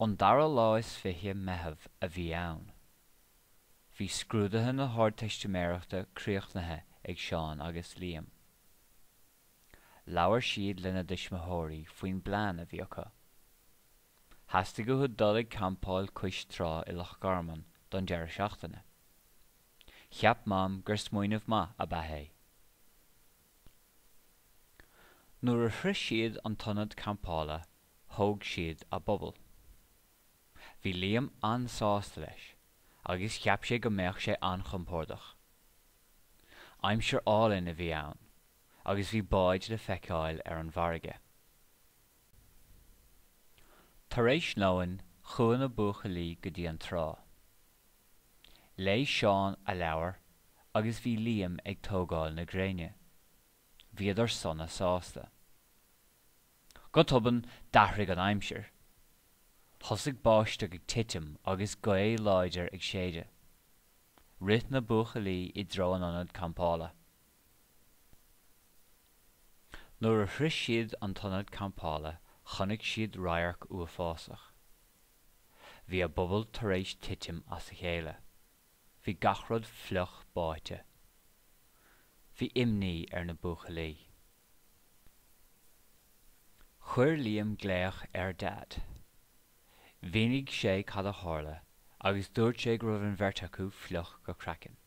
An dara lá is fiche Meitheamh a bhí ann. Bhí scrúduithe na hArdteistiméireachta críochnaithe ag Seán agus Liam. Labhair siad lena dtuismitheoirí faoin bplean a bhí acu. Theastaigh uathu dul ag campáil cois trá i Loch Garman don deireadh seachtaine. Cheap Mam gur smaoineamh maith a bhí ann é. Nuair a shroich siad an t-ionad campála thóg siad a bpuball. Bhí Liam an-sásta leis agus cheap sé go mbeadh sé an-chompordach. Aimsir álainn a bhí ann agus bhí báid le feiceáil ar an bhfarraige. Tar éis lóin chuaigh na buachaillí go dtí an trá. Léigh Seán a leabhar agus bhí Liam ag tógáil na gréine. Bhíodar sona sásta. Go tobann d'athraigh an aimsir. Thosaigh báisteach ag titim agus gaoth láidir ag séideadh. Rith na buachaillí i dtreo an ionad campála. Nuair a shroich siad an t-ionad campála chonaic siad radharc uafásach. Bhí a bpuball tar éis titim as a chéile. Bhí gach rud fliuch báite. Bhí imní ar na buachaillí. Chuir Liam glaoch ar a Dhaid. Mhínigh sé cad a tharla agus dúirt sé go raibh an bheirt acu fliuch go craiceann.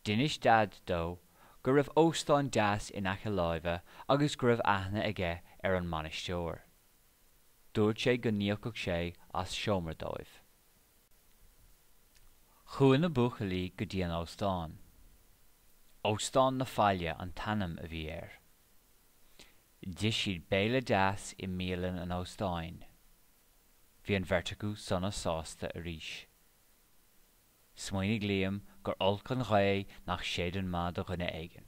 D'inis Daid dó go raibh óstán deas in aice láimhe agus go raibh aithne aige ar an mbainisteoir. Dúirt sé go n-íocfadh sé as seomra dóibh. Chuaigh na buachaillí go dtí an óstán. Óstán na Faille an t-ainm a bhí air. D'ith siad béile deas i mbialann an óstáin. Bhí an bheirt acu sona sásta arís. Smaoinigh Liam gur olc an ghaoth nach séideann maith do dhuine éigin.